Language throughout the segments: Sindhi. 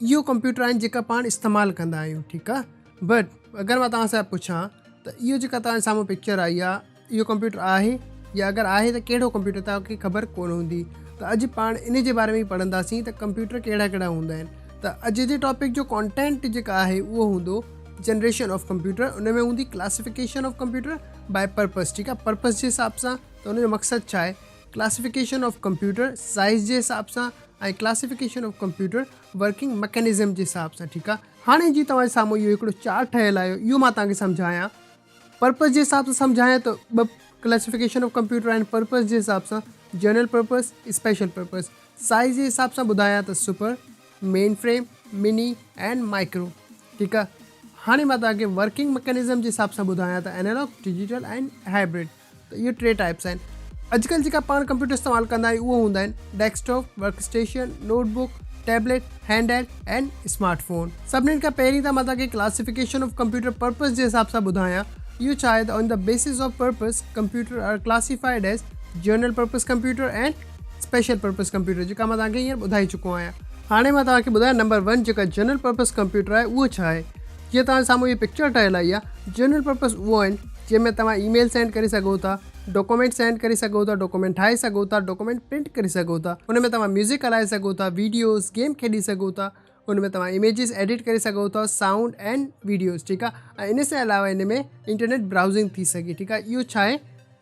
اهو ڪمپيوٽر آهن جيڪا پاڻ استعمال ڪندا آهيون ٺيڪ آ بٽ اگر مان توهان سان پڇان ته اهو جيڪا توهان سامهون پڪچر آئي آ اهو ڪمپيوٽر آهي يا اگر آهي ته ڪهڙو ڪمپيوٽر توهان کي خبر ڪونه هوندي ته اڄ پاڻ ان جي باري ۾ پڙهنداسين ته ڪمپيوٽر ڪهڙا ڪهڙا هوندا آهن ته اڄ جي ٽاپڪ جو ڪانٽينٽ جيڪا آهي اهو هوندو جنريشن آف ڪمپيوٽر ان ۾ هوندي classification of computer by purpose ٺيڪ آ پرپز جي حساب سان ته ان جو مقصد ڇا آهي ڪلاسيفڪيشن آف ڪمپيوٽر سائز جي حساب سان ۽ classification of computer working mechanism جي حساب سان ٺيڪ آهي هاڻي جي توهان جي سامهون اهو هڪڙو چارٽ ٺهيل آهي اهو مان توهان کي سمجهايان پرپز جي حساب سان سمجهايان ته ٻه ڪلاسيفڪيشن آف ڪمپيوٽر آهن پرپز جي حساب سان general purpose special purpose size جي حساب سان ٻڌايان ته super mainframe mini and micro ٺيڪ آهي هاڻي مان توهان کي ورڪنگ مڪينزم جي حساب سان ٻڌايان ته اينالاگ ڊجيٽل اينڊ هائبرڊ ته اهي ٽي ٽائيپس آهن. اڄڪلهه جيڪا پاڻ ڪمپيوٽر استعمال ڪندا آهيون اهي هوندا آهن desktop, work station, notebook, tablet, handheld ۽ smartphone. سڀني کان پهرين ته مان توهان کي ڪلاسيفڪيشن آف ڪمپيوٽر پرپز جي حساب سان ٻڌايان اهو ڇا آهي ته on the basis of purpose computer are classified as general purpose computer ۽ special purpose computer جيڪا مان توهان کي هينئر ٻڌائي چڪو آهيان. هاڻي مان توهان کي ٻڌايان نمبر ون جيڪا جنرل پرپز ڪمپيوٽر آهي اهو ڇا آهي. جيئن توهان جي سامهون هي پڪچر ٺهيل آئي آهي جنرل پرپس اهو آهن جنهن ۾ توهان اي ميل سينڊ ڪري سگهو ٿا ڊاڪومينٽ سينڊ ڪري سگهو ٿا ڊاڪومينٽ ٺاهي سگهو ٿا ڊاڪومينٽ پرنٽ ڪري سگهو ٿا ان ۾ توهان ميوزڪ هلائي سگهو ٿا ويڊيوز گيم کيڏي سگهو ٿا ان ۾ توهان اميجز ايڊٽ ڪري سگهو ٿا سائونڊ اينڊ ويڊيوز ٺيڪ آهي ۽ ان سان علاوه ان ۾ انٽرنيٽ براؤزنگ ٿي سگهي ٺيڪ آهي اهو ڇا آهي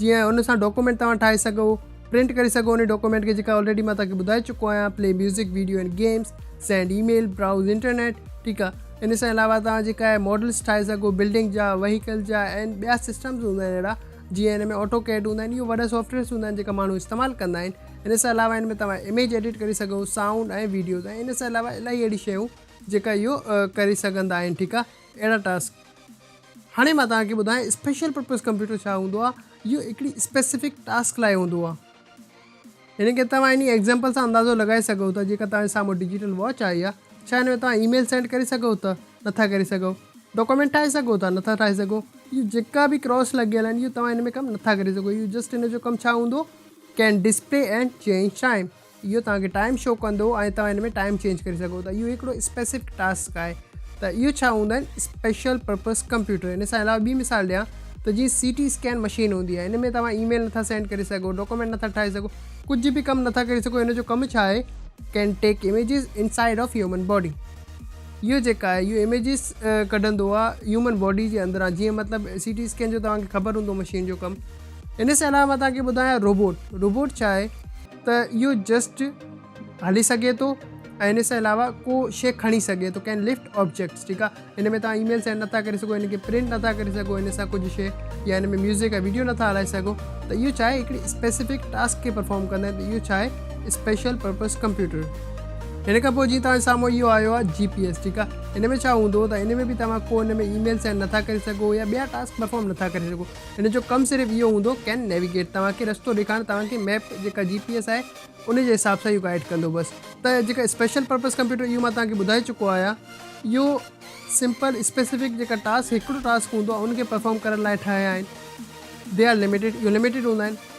جيئن ان سان ڊاڪومينٽ توهان ٺاهي سگهو پرنٽ ڪري سگهو انهي ڊاڪومينٽ کي جيڪا آلريڊي مان توهان کي ٻڌائي چڪو آهيان play music video and games send email browse internet ٺيڪ آهي ان سان علاوه توهان جيڪا آهي ماڊلس ٺاهي سگهو بلڊنگ جا وهيڪل جا اينڊ ٻيا سسٽمز هوندا آهن اهڙا جيئن ان ۾ آٽو ڪيڊ هوندا آهن اهو وڏا سافٽويئرس هوندا آهن جيڪا ماڻهو استعمال ڪندا آهن ان سان علاوه ان ۾ توهان اميج ايڊٽ ڪري سگهو سائونڊ ۽ ويڊيوز ۽ ان سان علاوه الاهي اهڙي شيون جيڪا اهو ڪري سگهندا آهن ٺيڪ آهي اهڙا ٽاسڪ هاڻي مان توهان کي ٻڌايان اسپيشل پرپز ڪمپيوٽر ڇا هوندو آهي اهو هڪڙي اسپيسفڪ ٽاسڪ لاء هوندو آهي هن کي توهان انهي ايگزامپل سان اندازو لڳائي سگهو ٿا جيڪا توهان جي سامهون ڊجيٽل واچ آئي آهي ڇا هن ۾ توهان اي ميل سينڊ ڪري سگهو ٿا نٿا ڪري سگهو ڊاڪومينٽ ٺاهي سگهو ٿا نٿا ٺاهي سگهو اهو جيڪا به ڪراس لڳيل آهن اهو توهان هن ۾ ڪم نٿا ڪري سگهو اهو جسٽ هن جو ڪم ڇا هوندو can display and change time اهو توهان کي ٽائيم شو ڪندو ۽ توهان هن ۾ ٽائيم چينج ڪري سگهو ٿا اهو هڪڙو اسپيسفڪ ٽاسڪ آهي ته اهو ڇا هوندا آهن اسپيشل پرپز ڪمپيوٽر ان سان علاوه ٻي مثال ڏيان ته جيئن سي ٽي اسڪين مشين هوندي آهي ان ۾ توهان اي ميل نٿا سينڊ ڪري سگهو ڊاڪومينٽ نٿا ٺاهي سگهو ڪجهه به ڪم نٿا ڪري سگهو هن جو ڪم ڇا آهي can take images inside of human body اهو جيڪا آهي اهو ايميجز ڪڍندو آهي هيومن باڊي جي اندران جيئن مطلب سي ٽي اسڪين جو توهان کي خبر هوندو مشين جو ڪم ان سان علاوه توهان کي ٻڌايان روبوٽ روبوٽ ڇا آهي ته اهو جسٽ هلي سگهي ٿو ۽ ان سان علاوه ڪو شيء کڻي سگهي ٿو ڪين لفٽ آبجيڪٽس ٺيڪ آهي ان ۾ تان ايميل سينڊ نٿا ڪري سگهو ان کي پرنٽ نٿا ڪري سگهو ان سان ڪجهه شيء يا ان ۾ ميوزڪ يا ويڊيو نٿا هلائي سگهو ته اهو ڇا آهي هڪڙي اسپيسيفڪ ٽاسڪ کي پرفارم ڪندا آهن ته اهو ڇا آهي اسپيشل پرپز ڪمپيوٽر ان کان پوء جي توهان سامهون اهو آيو آهي جي پي ايس ٺيڪ آهي ان ۾ ڇا هوندو ته ان ۾ به توهان ڪو ان ۾ ايميل سينڊ نٿا ڪري سگهو يا ٻيا ٽاسڪ پرفارم نٿا ڪري سگهو هن جو ڪم صرف اهو هوندو ڪين نيويگيٽ توهان کي رستو ڏيکارڻ توهان کي ميپ جيڪا جي پي ايس آهي ان جي حساب سان اهو گائيڊ ڪندو بس ته جيڪا اسپيشل پرپز ڪمپيوٽر اهو مان توهان کي ٻڌائي چڪو آهيان اهو سمپل اسپيسفڪ جيڪا ٽاسڪ هڪڙو ٽاسڪ هوندو آهي ان کي پرفارم ڪرڻ لاء ٺاهيا آهن دي آر لميٽيڊ اهو لميٽيڊ هوندا آهن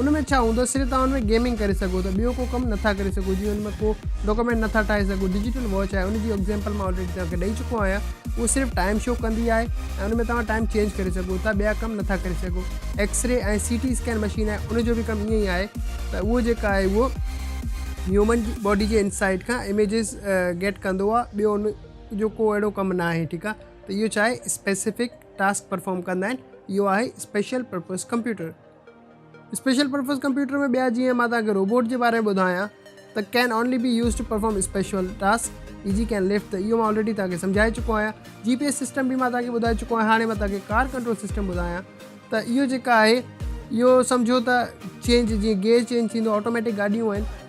ان ۾ ڇا هوندو صرف توهان ان ۾ گيمنگ ڪري سگهو ٿا ٻيو ڪو ڪم نٿا ڪري سگهو جيئن ان ۾ ڪو ڊاڪومينٽ نٿا ٺاهي سگهو ڊجيٽل واچ آهي ان جي اگزيمپل مان آلريڊي توهان کي ڏئي چڪو آهيان اهو صرف ٽائيم شو ڪندي آهي ۽ ان ۾ توهان ٽائيم چينج ڪري سگهو ٿا ٻيا ڪم نٿا ڪري سگهو X ray ۽ C T scan machine آهي ان جو به ڪم ائين ئي آهي ته اهو جيڪا آهي اهو هيومن جي باڊي جي انسائيڊ کان اميجز گيٽ ڪندو آهي ٻيو ان جو ڪو اهڙو ڪم نه آهي ٺيڪ آهي ته اهو چاهي اسپيسيفڪ ٽاسڪ پرفارم ڪندا آهن اهو آهي special purpose computer special purpose computer ۾ ٻيا جيئن مان توهانکي روبوٽ جي باري ۾ ٻڌايان ته can only be use to perform special task اي جي ڪين لفٽ ته اهو مان آلريڊي توهانکي سمجهائي چڪو آهيان جي پي ايس سسٽم به مان توهانکي ٻڌائي چڪو آهيان هاڻي مان توهانکي ڪار ڪنٽرول سسٽم ٻڌايان ته اهو جيڪا آهي اهو سمجهو ته چينج جيئن گيئر چينج ٿيندو آٽوميٽڪ گاڏيون آهن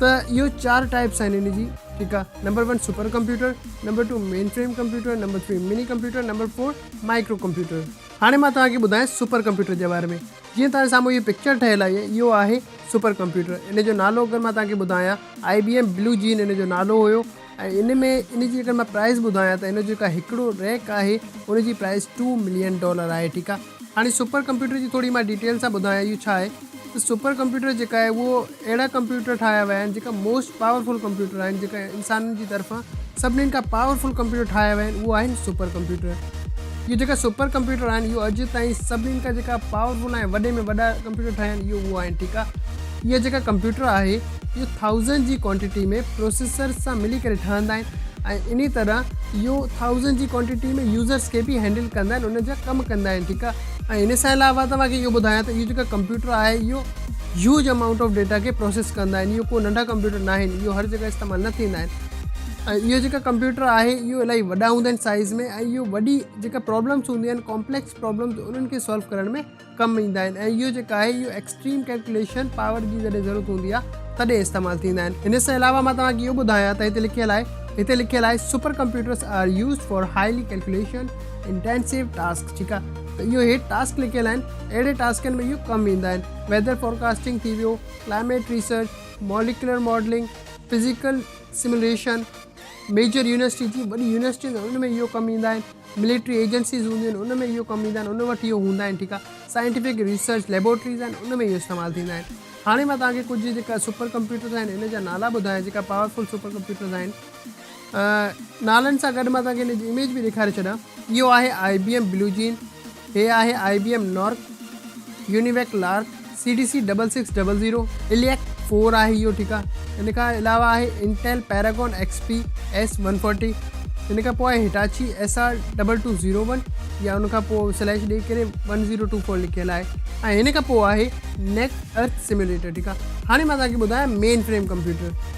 ته اهو چار ٽائپس آهن ان جي ٺيڪ آ number one supercomputer number two mainframe computer number three minicomputer number four microcomputer هاڻي مان توهان کي ٻڌايان سپر ڪمپيوٽر جي باري ۾ جيئن توهان جي سامهون هي پڪچر ٺهيل آهي اهو آهي سپر ڪمپيوٽر ان جو نالو اگر مان توهان کي ٻڌايان آئي بي ايم بلو جين ان جو نالو هيو ۽ ان ۾ ان جي اگر مان پرائز ٻڌايان ته ان جو جيڪا هڪڙو ريڪ آهي ان جي پرائز ٽو ملين ڊالر آهي ٺيڪ آهي هاڻي سپر ڪمپيوٽر جي ٿوري مان ڊيٽيل سان ٻڌايان اهو ڇا آهي ته سپر ڪمپيوٽر جيڪا آهي اهو اهڙا ڪمپيوٽر ٺاهيا ويا آهن جيڪا موسٽ پاورفل ڪمپيوٽر آهن جيڪا انسانن جي طرفان سڀني کان پاورفل ڪمپيوٽر ٺاهيا ويا آهن اهو آهن سپر ڪمپيوٽر اهي جيڪا سپر ڪمپيوٽر آهن اهو اڄ تائين سڀني کان جيڪا پاورفل ۽ وڏي ۾ وڏا ڪمپيوٽر ٺاهيا آهن اهو اهو آهن ٺيڪ آهي اهي جيڪا ڪمپيوٽر آهي اهو ٿائوزنڊ جي ڪوانٽيٽي ۾ پروسيسرز سان ملي ڪري ٺهندا آهن ۽ انهي طرح اهو ٿائوزنڊ جي ڪوانٽيٽي ۾ يوزرز کي به هينڊل ڪندا آهن انهن جا ڪم ڪندا آهن ٺيڪ آهي ۽ ان سان علاوه توهان کي اهو ٻڌايان ته اهو جيڪا ڪمپيوٽر آهي اهو هيوج امائونٽ آف ڊيٽا کي پروسيس ڪندا آهن اهو ڪو ننڍا ڪمپيوٽر نه آهن اهو هر جڳهه استعمال نه ٿيندا آهن ۽ اهو جيڪا ڪمپيوٽر آهي اهو الاهي وڏا هوندا آهن سائز ۾ ۽ اهو وڏي جيڪا پرابلمس هونديون آهن ڪامپليڪس پرابلمس انهن کي سالو ڪرڻ ۾ ڪم ايندا آهن ۽ اهو جيڪو آهي اهو ايڪسٽريم ڪيلڪوليشن پاور جي جڏهن ضرورت هوندي آهي تڏهن استعمال ٿيندا آهن ان سان علاوه مان توهان کي اهو ٻڌايان ته هتي لکيل آهي هتي لکيل آهي supercomputers are use for highly calculation intensive task ٺيڪ آهي ته اهو هيٺ ٽاسڪ لکيل آهن اهڙي ٽاسڪن ۾ اهو ڪم ايندا آهن ويدر فورڪاسٽنگ ٿي ويو climate research molecular modelling physical simulation major university جي وڏي يونيورسٽي ان ۾ اهو ڪم ايندا آهن ملٽري ايجنسيز هونديون آهن ان ۾ اهو ڪم ايندا آهن ان وٽ اهو هوندا آهن ٺيڪ آهي سائنٽيفڪ ريسرچ ليبورٽريز آهن ان ۾ اهو استعمال ٿيندا آهن هاڻي مان توهان کي ڪجهه جيڪا سپر ڪمپيوٽرز آهن ان جا نالا ٻڌايان جيڪا پاورفل سپر ڪمپيوٽرز آهن نالن سان گڏ مان توهان کي ان جي اميج به ڏيکاري ڇڏان اهو آهي I B M blue Gene هي آهي I B M NORC, UNIVAC LARC, C D C double six double zero, ILLIAC four آهي اهو ٺيڪ آهي. ان کان علاوه آهي Intel Paragon X P S one forty, ان کان پوء آهي Hitachi S R double two zero one يا ان کان پوء سليش ڏيئي ڪري ون زيرو ٽو فور لکيل آهي ۽ ان کان پوء آهي نيٽ ارٿ سيميوليٽر ٺيڪ آهي. هاڻي مان توهان کي ٻڌايان مين فريم ڪمپيوٽر.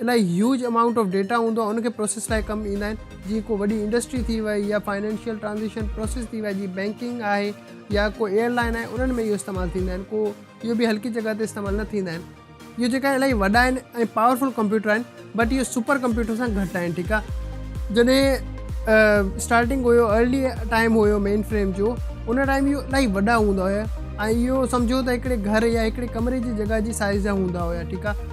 الائي هيوج امائونٽ آف ڊيٽا هوندو آهي ان کي پروسيس لاء ڪم ايندا آهن جيئن ڪو وڏي انڊسٽري ٿي وئي يا فائنينشل ٽرانزيڪشن پروسيس ٿي وئي جيئن بينڪنگ آهي يا ڪو ايئر لائن آهي انهن ۾ اهو استعمال ٿيندا آهن ڪو اهو به هلڪي جڳهه تي استعمال نه ٿيندا آهن اهو جيڪا آهن الائي وڏا آهن ۽ پاورفل ڪمپيوٽر آهن بٽ اهو سپر ڪمپيوٽر سان گهٽ آهن ٺيڪ آهي جڏهن starting have early time have mainframe جو ان ٽائيم اهو الائي وڏا هوندا هيا ۽ اهو سمجهو ته هڪڙي گهر يا هڪڙي ڪمري جي جڳهه جي سائز جا هوندا هيا ٺيڪ آهي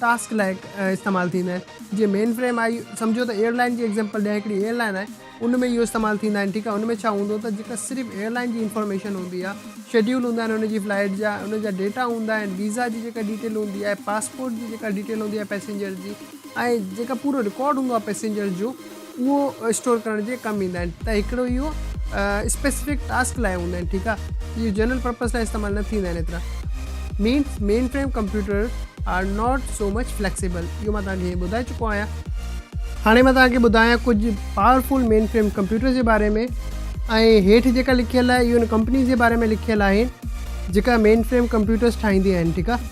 ٽاسڪ لاء استعمال ٿيندا آهن جيئن مين فريم آهي سمجهو ته ايئر لائين جي ايگزيمپل ڏيان هڪڙي ايئر لائين آهي ان ۾ اهو استعمال ٿيندا آهن ٺيڪ آهي ان ۾ ڇا هوندو ته جيڪا صرف ايئر لائين جي انفارميشن هوندي آهي شيڊيول هوندا آهن ان جي فلائيٽ جا ان جا ڊيٽا هوندا آهن ويزا جي جيڪا ڊيٽيل هوندي آهي پاسپورٽ جي جيڪا ڊيٽيل هوندي آهي پئسينجر جي ۽ جيڪا پورو رڪارڊ هوندو آهي پئسينجر جو اهو اسٽور ڪرڻ جي ڪم ايندا آهن ته هڪڙو اهو اسپيسفڪ ٽاسڪ لاء هوندا آهن ٺيڪ آهي اهي جنرل پرپز لاء استعمال نه ٿيندا آهن ايترا means mainframe computer are not so much flexible اهو مان توهان کي هيئن ٻڌائي چڪو آهيان هاڻي مان توهان کي ٻڌايان ڪجهه پاورفل مين فريم ڪمپيوٽر جي باري ۾ ۽ هيٺ جيڪا لکيل آهي اهو ان ڪمپني جي باري ۾ لکيل آهي جيڪا مين فريم ڪمپيوٽرس ٺاهيندي آهن ٺيڪ آهي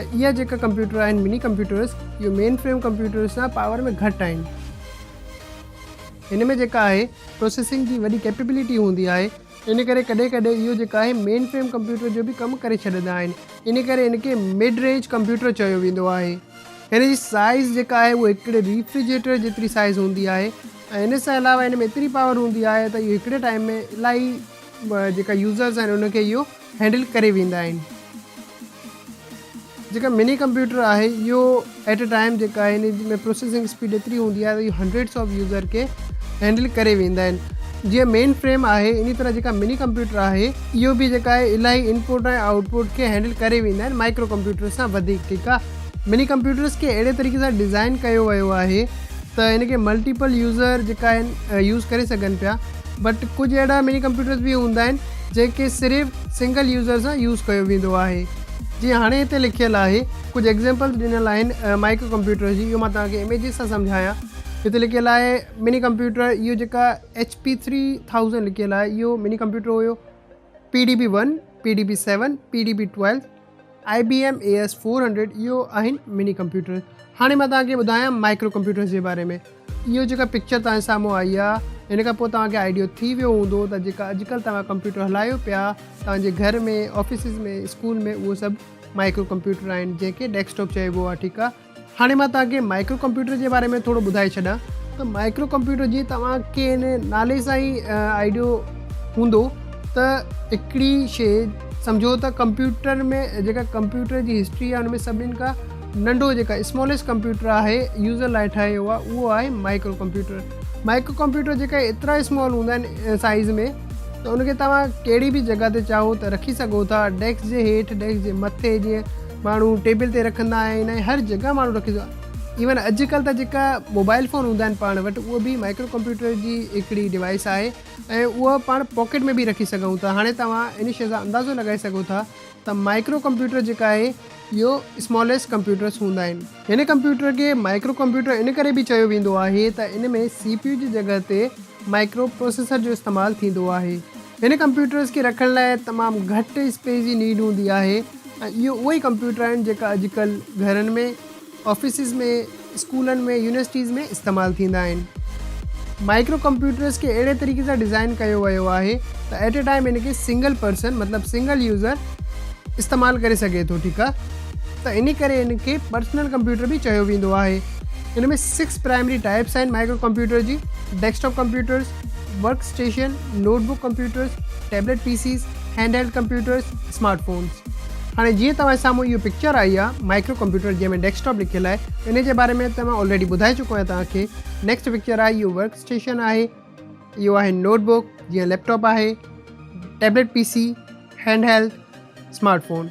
۽ اهي جيڪا ڪمپيوٽر آهن مني ڪمپيوٽرس اهي مين فريم ڪمپيوٽرس سان پاور ۾ گهٽ آهن هن ۾ جيڪا آهي پروسيسنگ جي وڏي ڪيپيبلٽي هوندي آهي ان ڪري ڪڏهن ڪڏهن اهو جيڪا آهي مين فريم ڪمپيوٽر جو به ڪم ڪري ڇڏندا آهن ان ڪري ان کي مڊ رينج ڪمپيوٽر چيو ويندو آهي هن جي سائيز جيڪا آهي اهو هڪڙي ريفريجريٽر جيتري سائيز هوندي آهي ۽ ان سان علاوه هن ۾ ايتري پاور هوندي آهي ته اهو هڪڙي ٽائيم ۾ الاهي جيڪا يوزرز آهن ان کي اهو هينڊل ڪري ويندا آهن جيڪا مني ڪمپيوٽر آهي اهو ايٽ اي ٽائم جيڪا آهي ان ۾ پروسيسنگ اسپيڊ ايتري هوندي آهي اهو هنڊريڊس آف يوزر کي هينڊل ڪري ويندا آهن جيئن مين فريم آهي ان طرح جيڪا مني ڪمپيوٽر آهي اهو به جيڪا آهي الاهي انپوٽ ۽ آؤٽ پوٽ کي هينڊل ڪري ويندا آهن مائڪرو ڪمپيوٽر سان وڌيڪ ٺيڪ آهي مني ڪمپيوٽرس کي اهڙي طريقي سان ڊيزائن ڪيو ويو آهي ته هن کي ملٽيپل يوزر جيڪا آهن يوز ڪري سگهن پيا بٽ ڪجهه اهڙا مني ڪمپيوٽرز به هوندا آهن جنهن کي صرف سنگل يوزر سان يوز ڪيو ويندو آهي جيئن هاڻي هتي لکيل آهي ڪجهه ايگزيمپلز ڏنل آهن مائڪرو ڪمپيوٽرز جي اهو مان توهان کي اميجز سان سمجهايان هتي لکيل آهي مني ڪمپيوٽر اهو جيڪا ايچ پي ٿري ٿاؤزنڊ لکيل آهي اهو minicomputer have P D P one P D P seven P D P twelve I B M A S four hundred اهو آهن مني ڪمپيوٽر هاڻي مان توهان کي ٻڌايان مائڪرو ڪمپيوٽرس جي باري ۾ اهو جيڪا پڪچر توهان جي سامهون آئي آهي ان کان پوء توهان کي آئيڊيو ٿي ويو هوندو ته جيڪا اڄڪلهه توهان ڪمپيوٽر هلايو پيا توهان جي گهر ۾ آفيسز ۾ اسڪول ۾ اهو سڀ مائڪرو ڪمپيوٽر آهن جنهن کي ڊيسڪٽاپ چئبو آهي ٺيڪ آهي هاڻي مان توهان کي مائڪرو ڪمپيوٽر جي باري ۾ ٿورو ٻڌائي ڇڏيان ته مائڪرو ڪمپيوٽر جي توهان کي ان نالي سان ئي آئيڊيو هوندو ته هڪڙي شي سمجهو ته ڪمپيوٽر ۾ جيڪا ڪمپيوٽر جي هسٽري آهي ان ۾ سڀني کان ننڍو جيڪا اسماليسٽ ڪمپيوٽر آهي يوزر لاء ٺاهيو آهي اهو آهي مائڪرو ڪمپيوٽر مائڪرو ڪمپيوٽر جيڪا ايترا اسمال هوندا آهن سائز ۾ ته ان کي توهان ڪهڙي به جڳهه تي چاهو ته رکي سگهو ٿا ڊيسڪ جي هيٺ ڊيسڪ جي مٿي جيئن ماڻهو ٽيبل تي رکندا آهن ۽ هر جڳهه ماڻهو رکي سگهندو آهي ايون اڄ ڪلهه ته جيڪا موبائل فون هوندا آهن پاڻ وٽ اهو به مائڪرو ڪمپيوٽر جي هڪڙي ڊوائيس آهي ۽ اهو پاڻ پاڪيٽ ۾ به رکي سگهون ٿا هاڻي توهان ان شي سان اندازو لڳائي سگهو ٿا ته مائڪرو ڪمپيوٽر جيڪا آهي اهو اسماليسٽ ڪمپيوٽرس هوندا آهن هن ڪمپيوٽر کي مائڪرو ڪمپيوٽر ان ڪري به چيو ويندو آهي ته ان ۾ سي پي يو جي جڳهه تي مائڪرو پروسيسر جو استعمال ٿيندو آهي. هن ڪمپيوٽرز کي رکڻ لاء تمام گهٽ اسپيس جي نيڊ هوندي آهي ۽ اهي اهي ئي ڪمپيوٽر آهن جيڪا اڄڪلهه گهرن ۾، آفيسز ۾، اسڪولن ۾، يونيورسٽيز ۾ استعمال ٿيندا آهن. مائڪرو ڪمپيوٽرز کي اهڙي طريقي سان ڊزائين ڪيو ويو آهي ته ايٽ اي ٽائيم ان کي سنگل پرسن مطلب سنگل يوزر استعمال ڪري سگهي ٿو ٺيڪ آهي. ته انهي ڪري ان کي پرسنل ڪمپيوٽر به چيو ويندو آهي. ان ۾ سڪس پرائمري ٽائيپس آهن مائڪرو ڪمپيوٽر جي، desktop computers, work station, notebook computers, tablet PCs, handheld computers, smartphones. هاڻي جيئن توهان جي سامهون اهو پڪچر آئي آهي مائڪرو ڪمپيوٽر جنهن ۾ ڊيسڪ ٽاپ لکيل آهي انهي جي باري ۾ ته مان آلريڊي ٻڌائي چڪو آهيان توهان کي. نيڪسٽ پڪچر آهي اهو ورڪ اسٽيشن آهي اهو آهي نوٽ بڪ جيئن ليپ ٽاپ آهي، tablet P C, handheld, smartphone.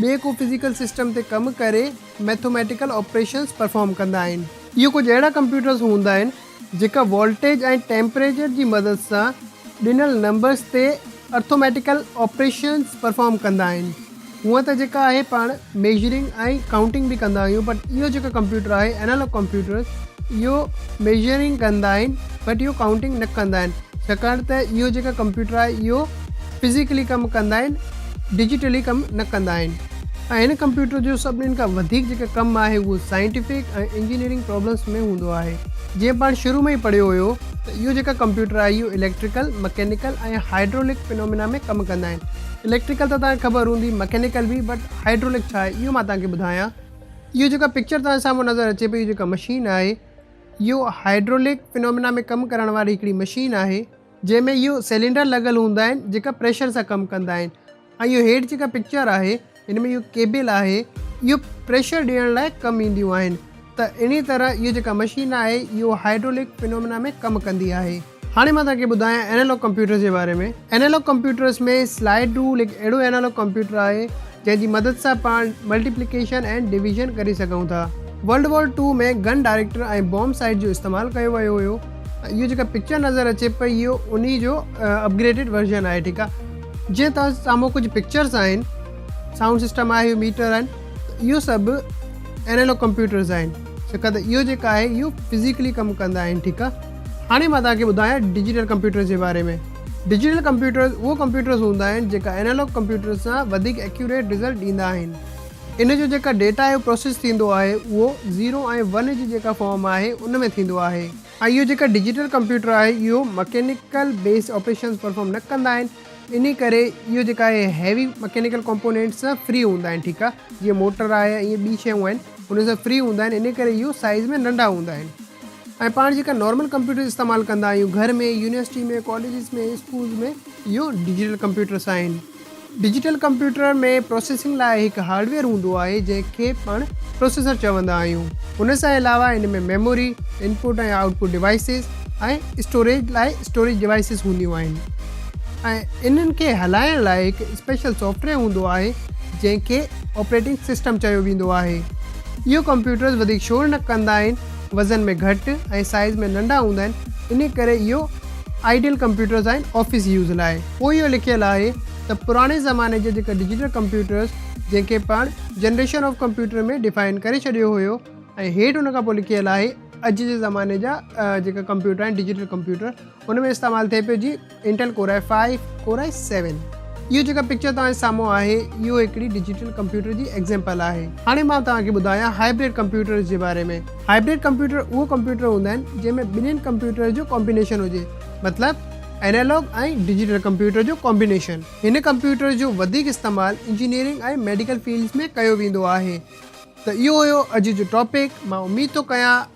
ٻئي ڪو فزيڪل سسٽم تي ڪم ڪري ميٿوميٽيڪل آپريشنز پرفارم ڪندا آهن. اهي ڪجهه اهڙا ڪمپيوٽرز هوندا آهن جيڪا وولٽيج ۽ ٽيمپريچر جي مدد سان ڏنل نمبرز تي ارٿوميٽيڪل آپريشنز پرفارم ڪندا آهن. هونئن ته جيڪا آهي پاڻ ميجرنگ ۽ ڪائونٽنگ به ڪندا آهيون بٽ اهو جيڪو ڪمپيوٽر آهي انالاگ ڪمپيوٽرز اهو ميجرنگ ڪندا آهن بٽ اهو ڪائونٽنگ نه ڪندا آهن ڇاڪاڻ ته اهو جيڪا ڪمپيوٽر آهي اهو فزيڪلي ڪم ڪندا آهن ڊجيٽلي ڪم نه ڪندا آهن ۽ هن ڪمپيوٽر جو سڀني کان وڌيڪ جيڪا ڪم آهي اهو سائنٽيفڪ ۽ انجنيئرنگ پرابلمس ۾ هوندو آهي جيئن پاڻ شروع ۾ ئي پڙهيو هيو ته اهو جيڪا ڪمپيوٽر آهي اهو اليڪٽريڪل مڪينيڪل ۽ هائيڊرولڪ فينومينا ۾ ڪم ڪندا آهن اليڪٽريڪل ته توهان کي خبر هوندي مڪينيڪل به بٽ هائيڊرولڪ ڇا آهي اهو مان توهان کي ٻڌايان اهو جيڪا پڪچر توهان سامهون نظر اچي پئي اهو جيڪا مشين آهي اهو هائيڊرولڪ فينومينا ۾ ڪم ڪرڻ واري هڪڙي مشين آهي جنهن ۾ اهي سيلينڊر لڳل هوندا آهن جيڪا پريشر سان ڪم ڪندا آهن ۽ اهو هيٺ جيڪا پڪچر آهي ان ۾ اهو ڪيبل آهي اهو پريشر ڏيڻ لاء ڪم اينديون آهن ته اهڙي طرح اهو جيڪا مشين آهي اهو هائيڊرولڪ فينومنا ۾ ڪم ڪندي آهي. هاڻي مان توهان کي ٻڌايان اينالاگ ڪمپيوٽرز جي باري ۾ اينالاگ ڪمپيوٽرز ۾ سلائيڊ رول هڪ اهڙو اينالاگ ڪمپيوٽر آهي جنهن جي مدد سان پاڻ ملٽيپليڪيشن ۽ ڊويزن ڪري سگهون ٿا. World war two ۾ gun director ۽ bomb sight جو استعمال ڪيو ويو هيو ۽ اهو جيڪا پڪچر نظر اچي پئي اهو انهي جو اپ گريڊيڊ ورزن آهي ٺيڪ آهي. جنهن توهان سامهون ڪجهه پڪچرز آهن سائونڊ سسٽم آهي اهو ميٽر آهن ته اهو سڀ انالوگ ڪمپيوٽرز آهن ڇڪا ته اهو جيڪا آهي اهو فزيڪلي ڪم ڪندا آهن ٺيڪ آهي. هاڻي مان توهان کي ٻڌايان ڊجيٽل ڪمپيوٽرز جي باري ۾. ڊجيٽل ڪمپيوٽرز اهو ڪمپيوٽرز هوندا آهن جيڪا اينالاگ ڪمپيوٽرز سان وڌيڪ ايڪيوريٽ رزلٽ ڏيندا آهن. ان جو جيڪا ڊيٽا اهو پروسيس ٿيندو آهي اهو زيرو ۽ ون جي جيڪا فارم آهي ان ۾ ٿيندو آهي ۽ اهو جيڪا ڊجيٽل ڪمپيوٽر آهي اهو مڪينيڪل بيسڊ آپريشنز پرفارم نه ڪندا آهن انهي ڪري اهو جيڪا آهي هيوي مڪينيڪل ڪمپونينٽس سان فري هوندا آهن ٺيڪ آهي جيئن موٽر آهي ۽ ٻي شيون آهن انهن سان فري هوندا آهن انهي ڪري اهو سائيز ۾ ننڍا هوندا آهن. ۽ پاڻ جيڪا نارمل ڪمپيوٽر استعمال ڪندا آهيون گهر ۾ يونيورسٽي ۾ ڪاليجز ۾ اسڪولز ۾ اهو ڊجيٽل ڪمپيوٽرس آهن ڊجيٽل ڪمپيوٽر ۾ پروسيسنگ لاء هڪ هارڊويئر هوندو آهي جنهن کي پاڻ پروسيسر چوندا آهيون ان سان علاوه ان ۾ memory input ۽ output devices ۽ storage لاء اسٽوريج ڊوائسز هونديون آهن ۽ انهن کي هلائڻ لاء هڪ اسپيشل سافٽويئر هوندو آهي جنهن کي آپريٽنگ سسٽم چيو ويندو آهي اهي ڪمپيوٽرز وڌيڪ شور نه ڪندا آهن، وزن ۾ گهٽ ۽ سائيز ۾ ننڍا هوندا آهن، انهي ڪري اهي آئيڊيل ڪمپيوٽرز آهن آفيس يوز لاء. پوء اهو لکيل آهي ته پراڻي زماني جا جيڪا ڊجيٽل ڪمپيوٽرز جنهن کي پاڻ جنريشن آف ڪمپيوٽر ۾ ڊفائن ڪري ڇڏيو هيو ۽ هيٺ ان کان پوء لکيل آهي اڄ جي زماني جا جيڪا ڪمپيوٽر آهن ڊجيٽل ڪمپيوٽر ان ۾ استعمال ٿئي پيو جي Intel Core i five Core i seven اهو جيڪا پڪچر توهان جي سامهون آهي اهو هڪڙي ڊجيٽل ڪمپيوٽر جي ايگزيمپل آهي هاڻي مان توهان کي ٻڌايان هائبريڊ ڪمپيوٽرز جي باري ۾ هائبريڊ ڪمپيوٽر اهو ڪمپيوٽر هوندا آهن جنهن ۾ ٻنهين ڪمپيوٽرز جو ڪامبينيشن هجي مطلب اينالاگ ۽ ڊجيٽل ڪمپيوٽر جو ڪامبينيشن هن ڪمپيوٽر جو وڌيڪ استعمال انجنيئرنگ ۽ ميڊيڪل فيلڊز ۾ ڪيو ويندو آهي ته اهو هيو اڄ جو ٽاپڪ مان اميد ٿو ڪيان